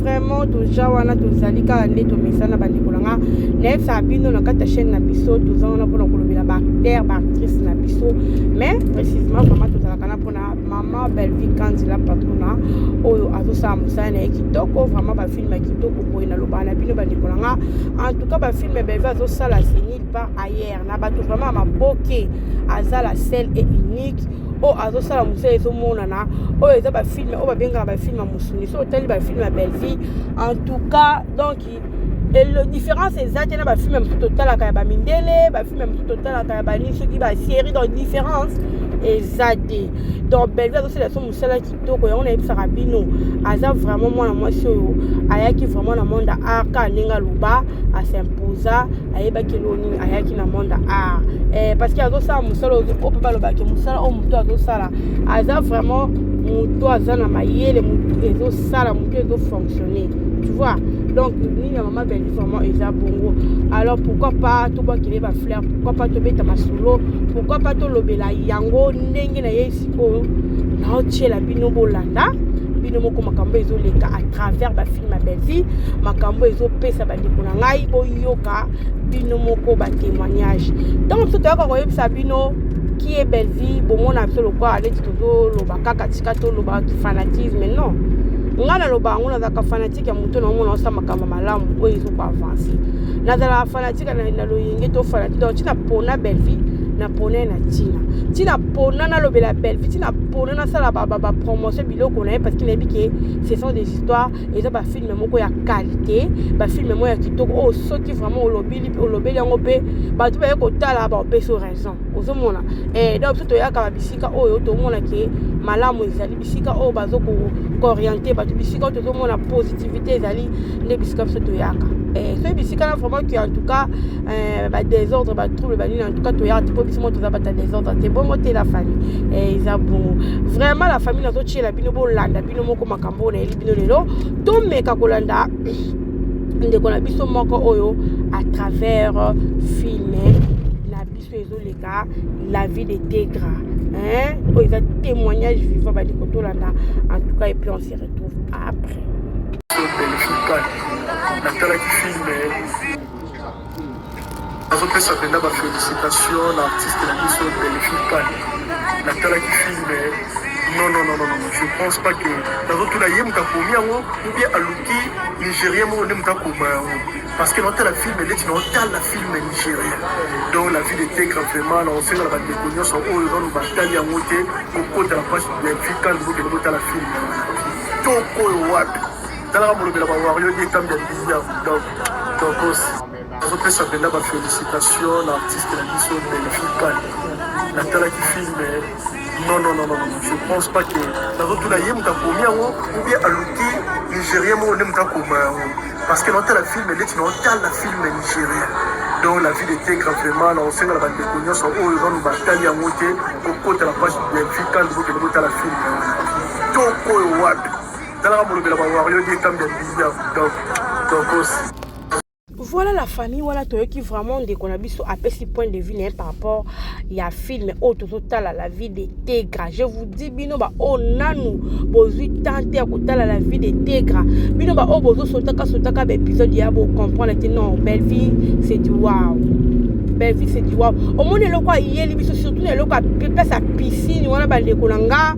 vraiment toza wana tozali kaka nde tomesana bandeko na nga nayebisaka bino na kati ya chaîne na biso toza wana mpona kolobela baacteur baactrice na biso mais précisement vraiment tozalaka na mpona mama bellevie kanzela patrona oyo azosala mosala na ye kitoko vraiment bafilme ya kitoko boye nalobaka na bino bandeko na nga en tout cas bafilme bellevie azosala senil pas ailleurs na bato vraiment ya maboke aza la selle et unique oyo azosala mosala ezomonana oyo eza bafilme oyo babengaka bafilme ya mosuni so otali bafilme ya bellevie en tout cas donc différence eza te na bafilme mosusu totalaka ya bamindele bafilme mosusu totalaka ya banini soki basérie donc différence eza te donc bellevie azosala so mosala kitoko yango nayebisaka bino aza vraiment mwana mwasi oyo ayaki vraiment na monde art kaka ndenge aloba asimposa ayebaki eloo nini ayaki na monde art eh, parce que azosala mosala oyo mpe balobaki mosala oyo moto azosala aza vraiment moto aza na mayele moto ezosala moto ezofonctionne tu vois donc nini ya mama belle vraiment eza bongo alors pourquoi pas tobwakele bafleur pourquoi pas tobeta masolo pourquoi pas tolobela yango ndenge na ye sikoyo naotyela bino bolanda bino moko makambo ezoleka à travers bafilme ya bellevie makambo ezopesa bandeko na ngai boyoka bino moko batémoignage ntango biso toyoka koyebisa bino qui est bellevie bomona biso lokola neti tozoloba kaka tika toloba fanatisme non ngai naloba yango nazalaka fanatike ya moto naomona osa makambo malamu oyo ezoko avanse nazalaka fanatike na loyenge to fanatike donc ntina pona bellevie na pona ye na ntina ntina pona nalobela bellevue ntina pona nasala bapromotion biloko na ye parce que nayebi ke ce sont des histoires eza bafilme moko ya qualité bafilme moko ya kitoko oyo oh, soki vraiment olobeli olobeli yango mpe bato baye kotala baopesi raison ozomona eh, donc biso toyaka bisika oyo tomona ke malamu ezali bisika oyo bazo kooriente bato bisika oyo tozomona positivité ezali nde bisika biso toyaka eh, soki bisika na vraiment que en tout cas eh, badésordre batrouble banini en tout cas toyaka te mpo biso mo toza bata désordre te bongo te la famille eh, eza bongo vraiment la famille nazotyela bino bolanda bino moko makambo oyo nayeli bino lelo tomeka kolanda ndeko na biso moko oyo à travers filme oyo ezoleka la vie de tegra hein oyo eza témoignage vivant bandi kotolanda en tout cas et puis on se retrouve après natalaki filme nazopesa mpenza bafélicitation na artiste na biso delphine kane natalaki filme non non non non je pense pas que nazotuna ye moto akomi yango ou bien aluki nigérien moko nde moto akoma yango parce que naotala filme neti naotala filme nigérien donc la ville etegra vraiment naosenga na bandeko nyonso oyo nanu batali yango te kokota na page ya vikan bokende botala filme toko oyo wapi talaka molobela bawario ye etambi ya bilia donc tokos azopesa mpenza bafélicitation na artiste na biso belvikan natalaki filme non non non non je pense pas que nazotuna ye moto akomi yango ou bien aluki nigérien moko nde moto akoma yango Parce que notala film neti naotala film nigérien donc la vie de tegra vraiment naosengala bandeko nyonso oyo nanu batali yango te kokota na page delphi kandi bokende botala film toko oyo wapi talaka molobela bawario die kambi ya bilia donc tokosi voilà la famille wana toyoki vraiment ndeko na biso apesi point de vue na ye par rapport ya film oyo ozotala la vie de tegra je vous dis bino baoyo nanu bozwi temps te ya kotala la vie de tegra bino baoyo bozosotaka sotaka baepisode ya bocomprendre te non bellevie c'est du wow bellevie c'est du wow omoni eloko ayeli biso surtout na eloko apesa piscine wana bandeko na nga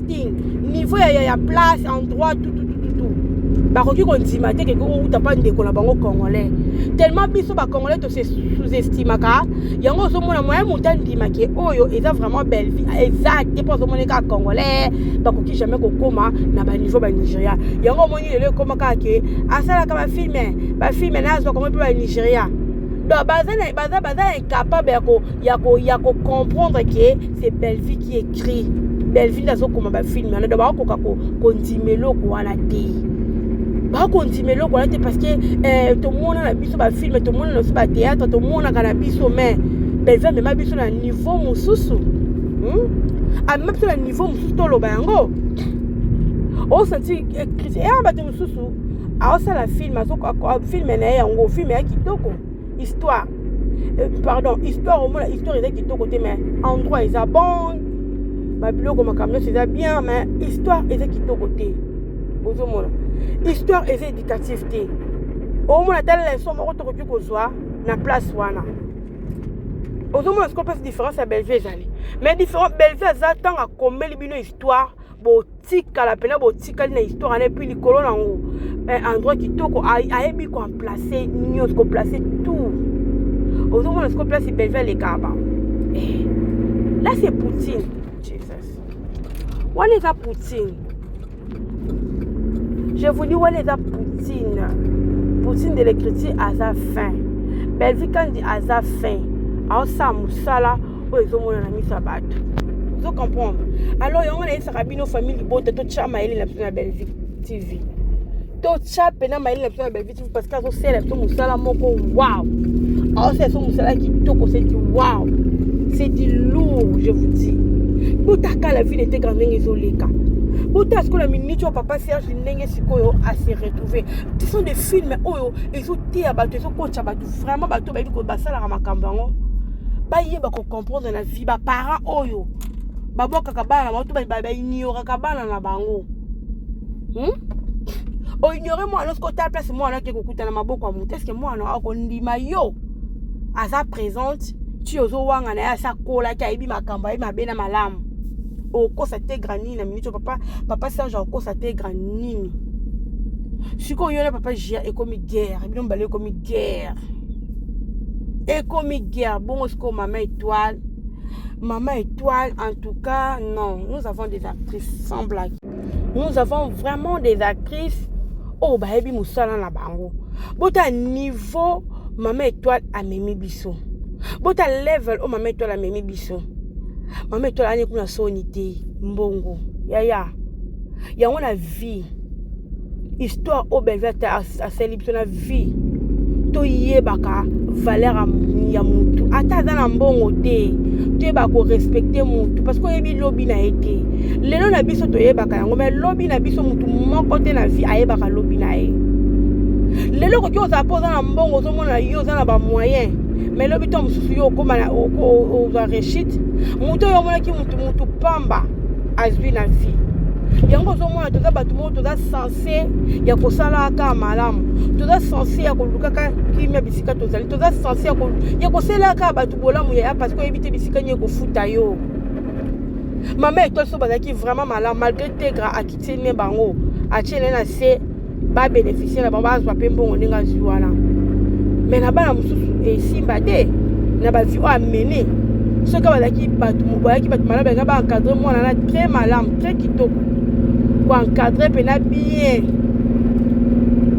acting niveau ya ya, ya place endroit tout tout tout tout bakoki kondima te keke outa mpa ndeko na bango congolais tellement biso bacongolais tose sous-estimaka yango ozomona moyen moto andima ke oyo eza vraiment bellevie eza te mpo azomona kaka congolais bakoki jamais kokóma na baniveau banigeria yango omoni lelo ekóma kaka ke asalaka bafilme bafilme na azwa kongo mpe banigeria donc baza incapable ya kocomprendre ke c'est bellevie qui est tri belleville azokoma bafilme wana do bakokoka kondima eloko wana te bakondima eloko wana te parce que eh, tomona na biso bafilme tomona na biso bateatre tomonaka na biso mais belleville amema biso na niveau mosusu hmm? amema biso na niveau mosusu toloba yango osanti eh, kristian ya bato mosusu aosala filme filme na ye yango filme ya kitoko histoire euh, pardon histoire omona histoire eza kitoko te mais endroit eza bon babiloko makambo nyonso eza bien mais histoire eza kitoko te ozomona histoire eza éducative te omona ata leson moko tokoki kozwa na place wana ozomona sikoyo place différence ya bellevue ezali mais bellevue aza ntango akomeli bino histoire botikala mpena botikali na histoire wana epuis likolo na yango eh, endroit kitoko ayebi koamplace nyonso koplace tout ozomona siko place belve alekaka ba eh, là c'est poutine jesus wana eza poutine je vous dis wana eza poutine poutine de l'écriture aza fin belvi kandi aza fin aosala mosala oyo ezomona na miso ya bato ozo comprendre alors yango nayebisaka bino famille libota totya mayele na biso na bellevie tv totya mpena mayele na biso na bellevie tv parce que azosala biso mosala moko wow aosala biso mosala kitoko seti wow seti lourd je vous dis botaka la vie n'était grande ndenge ezoleka bota sikoyo minute oyo papa serge ndenge sikoyo ase retrouve ce sont des films oyo ezoteya bato ezokotya bato vraiment bato bayebi basalaka makambo yango bayeba kocomprendre na vie baparent oyo babwakaka bana na bango to baignoraka bana na bango hmm? oignore mwana soki otala place mwana ake kokuta na maboko ya moto eske mwana akondima yo aza présente ti ozowanga na ye asi akolaki ayebi makambo ayebi mabe na malamu okosa te grand nini na minute papa papa serge akokosa te grand nini sikoyo yo na papa gia ekomi guerre bino mibale ekomi guerre ekomi guerre bongo sikoyo mama étoile mama étoile en tout cas non nous avons des actrices sans blague nous avons vraiment des actrices oyo oh, bayebi mosala na bango bota niveau mama étoile amemi biso bota level oyo oh, mama étoile amemi biso mama étoile ani kuna soni te mbongo yaya yango na vie histoire oyo bellevue ata asali biso na vie toyebaka valeur ya mutu ata aza na mbongo te toyeba korespecte mutu parce que oyebi lobi na ye te lelo na biso toyebaka yango mai lobi na biso mutu moko te na vie ayebaka lobi na ye lelo okoki ozala mpo oza na mbongo ozomona yo oza na bamoyen mai lobi to mosusu yo okoma ozwa rechite moto oyo omonaki mutu mutu pamba azwi na vie yango ozomona toza bato moko toza sense ya kosala kaka malamu toza sense ya kolukaka kimia bisika tozali toza sense ya kosalela kaka bato bolamu yaya parce que oyebi te bisika nini ekofuta yo mama etoile so bazalaki vraiment malamu malgré tegra akiti ne bango atie ne na se ba beneficier na bango bazwa mpe mbongo ndenge azwi wana me na bana mosusu esimba te na bavie oyo amene soki bazalaki bato bayaki bato malamu balinga baencadre mwana na très malamu très kitoko koencadre mpena bien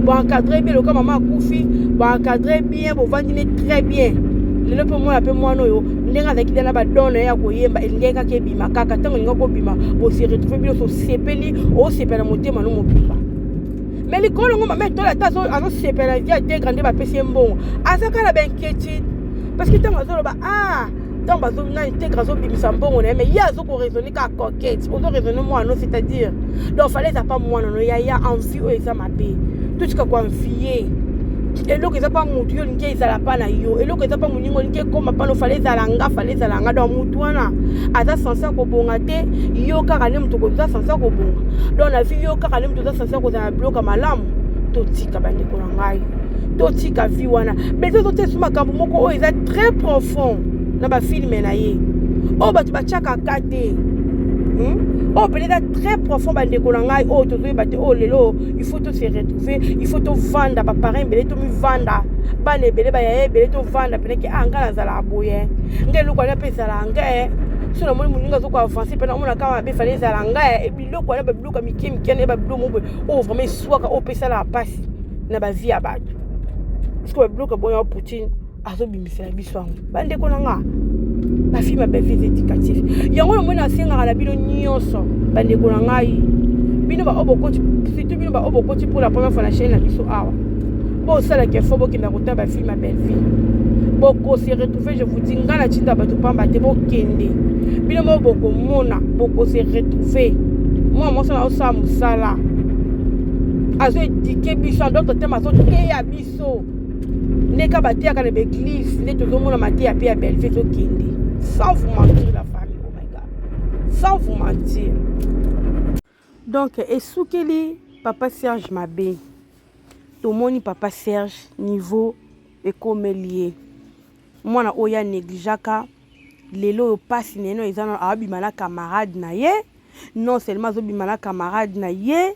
boencadre bien lokola mama akufi boencadre bien bovandi ne très bien lelo mpe omona mpe mwana oyo ndenge azalaki dana badone ya koyemba elingaki kaka bima kaka ntango olinga kobima bose retrouve bino osepeli osepela na motema no mobimba me likolo ngo mama etole ata azosepela na vie ategra nde bapesi ye mbongo aza kaka na bainquiétude parce que ntango azoloba ah ntango bazona integre azobimisa mbongo na ye mais ye azokoraisonne kaka coquete ozoraisonne mwana no c'est-à-dire donc fale eza pa mwana no yaya envie oyo eza mabe totika koanvie eloko eza mpa motu yo olingi ezala mpa na yo eloko eza mpa moninga olingi ekoma mpa nofala ezala nga fala ezala nga donc motu wana aza sense ya kobonga te yo kaka nde moto oza sense ya kobonga donc na vie yo kaka nde moto oza sense ya kozala na biloka malamu totika bandeko na ngai totika vie wana beza ozotesu makambo moko oyo eza très profond na bafilme na ye oyo bato batyaka kati te hmm? oyo oh, mpenza eza très profond bandeko na ngai oyo oh, tozoyeba te oyo oh, lelo il faut to se retrouver il faut tovanda baparent ebele tomivanda bana ebele bayaya ebele tovanda mpenake a ah, ngai nazalaka boye ngai eloko wana mpe ezalaka ngai eh. so namoni moninga azoki avance mpe namona kaka mabe fale ezala ngai eh. biloko wana babiloko ya mike mike na ye babiloko moko boye oyo vraiment eswaka oyo mpe esalaka mpasi na bavie ya bato sikoyo babiloko boya poutine azobimisela biso yango bandeko na nga bafilme ya bevise éducatif yango yango nasengaka na bino nyonso bandeko na ngai bino baoyo bokoti surtout bino baoyo bokoti mpo na première fois na chaine na biso awa bosalaka efo bokenda kotala bafilme ya bellevie bokose retrouve je vous dis ngai natinda bato pamba te bokende bino moko bokomona bokose retrouve mwana mwasi na osala mosala azoedike biso adokte tema azoteya biso biso ndeka bateyaka na baeglise nde tozomona mateya mpe ya belve ezokende sans vous mentir la famille oh my god sans vous mentir donc esukeli papa serge mabe tomoni papa serge niveau ekomeli ye mwana oyo ya negligaka lelo oyo mpasi na yeno eza abima na camarade na ye non seulement azobima na camarade na ye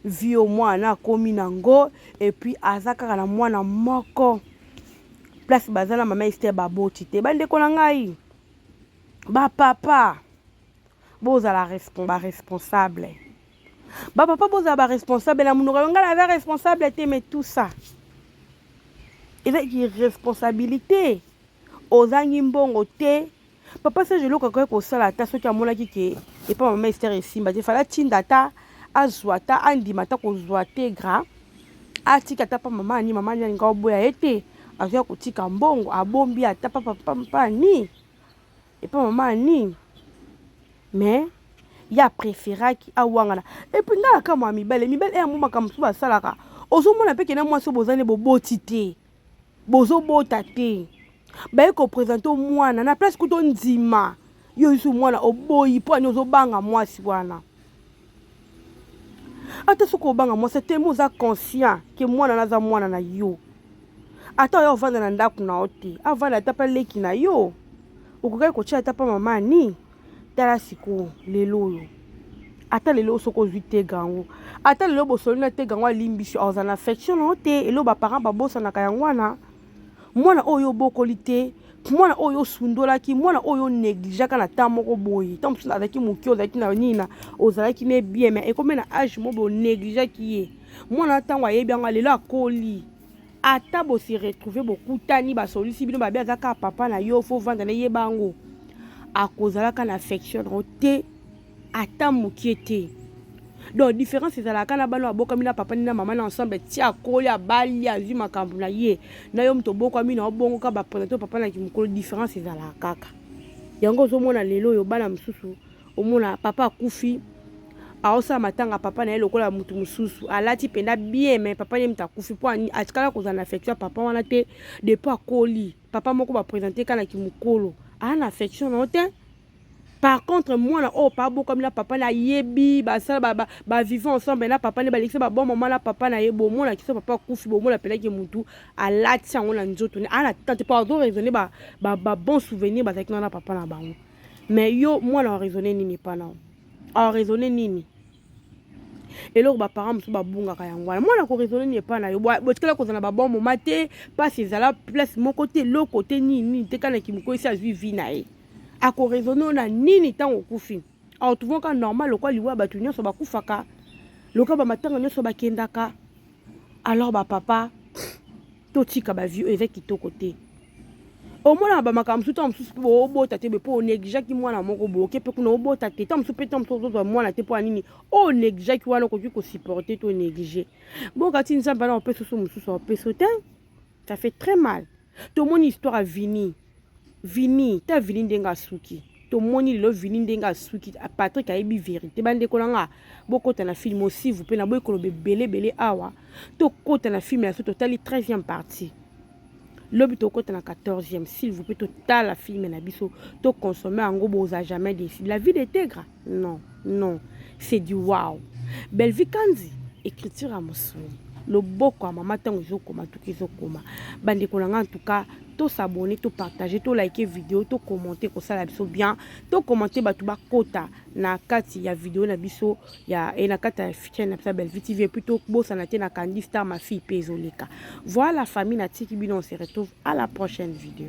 vie oyo mwana akomi na ngo epuis aza kaka na mwana moko place baza na mama ester baboti te bandeko na ngai bapapa bozala baresponsable bapapa bozala baresponsable na monoko yo ngai naza responsable te mais tout ça eza irresponsabilité ozangi mbongo te papa serge eloko akoki kosala ata soki amonaki ke epa mama ester esimba te fala atinda ata azwa ata andima ata kozwa tegra atika ata pa mama ani mama ani alinga oboya ye te azoya kotika mbongo abombi ata papapampa ani epa mama ani mais ye apréféraki awangana epuis ngai nakamwa ya mibale mibale eyango makambo mosusu basalaka ozomona mpe kena mwasi oyo bozani boboti te Bozo bota te. Baye ko presenter yo mwana na place kuto ndima yo isu mwana oboyi mpo ani ozo banga mwasi wana. Ata soki obanga mwasi te mo oza conscient ke mwana naza mwana na yo. Ata oya ovanda na ndako na yo te avanda ata mpe leki na yo okokaki kotia ata mpe mama ani tala sikoyo lelo oyo ata lelo soki ozwi tega yango ata lelo bosoli na tega yango alimbisi oza na affection nao te elo baparent babosanaka yango wana mwana oyo obokoli te mwana oyo osundolaki mwana oyo onegligeaka na temps moko boye ntango mosusu azalaki moke ozalaki na nini na ozalaki ne bien mai ekomi na age mo bonegligeaki ye mwana ntango ayebi yango lelo akoli ata bo se retrouver bokutani basolisi bino babe aza kaka papa na yo fo vanda na yeba yango akozalaka na affection yango te ata mokie te donc différence ezalaka na bana abokami na papa ni na mama na ensemble ti akoli abali azwi makambo na ye na yo moto obokwami na obongoka baprena to papa na kimokolo différence ezalaka kaka yango ozomona lelo oyo bana mosusu omona papa akufi aosala matanga papa na ye lokola motu mosusu alati mpenza bien me papa ye moto akufi mpo atikala kozala na affection ya papa wana te depuis akoli papa moko bapresente ka na kimokolo aa na affection na yo te par contre mwana oyo pa abokwami na papa na yebi basala bavivant ba, ba, ba ensemble na papa nde balekisa babon mama na papa na ye bomona kiso papa akufi bomona mpenaki motu alati yango na nzoto ne aa na tante mpo azo raisonne babon ba, ba souvenir bazalaki wana na papa na bango mais yo mwana oraisonne nini epa nao oraisonne nini eloko baparent mosusu babungaka yango wana mwana koraisonne nini epa na yo botikala kozala na babon moma te mpasi ezala place moko te eloko te nini nini te kana kimoko esi azwi vi na ye akoraisonne oyo na nini ntango okufi aotuvaka normal lokwa liwa bato nyonso bakufaka loka bamatanga nyonso bakendaka alors ba papa totika ba vie oyo eza kitoko te omonaka bamakambo mosusu ntango mosusu mpe obota te boye mpo oneglijaki mwana moko boye oke mpe kuna obota te ntango mosusu mpe ntango mosusu ozozwa mwana te mpo ya nini oyo oneglijaki wana okoki kosupporte to neglige bokati nzambe wana opesa oso mosusu aopeso te ça fait très mal tomoni histoire ya vini Vini ta Vini ndenge asuki tomoni lelo Vini ndenge asuki ah, Patrick ayebi verite bandeko na nga bokota na film aussi vous plaît naboyi koloba ebele ebele awa tokota na film ya so totali 13e partie lobi tokota na 14e s'il vous plaît totala film na biso tokonsome yango boza jamais décide la vie detegra Non, non, c'est du wow. Bellevue Kanzi, écriture à Mossouli. loboko ya mama ntango ezokoma tuki ezokoma bandeko na ngai en tout cas tosabone topartage tolike video tokommente kosala biso bien tokommente bato bakota na kati ya video na biso ya e na kati ya chaine na biso ya bellevue tv epuis tobosana te na kandi star ma fille mpe ezoleka voilà famille natiki bino on se retrouve à la prochaine video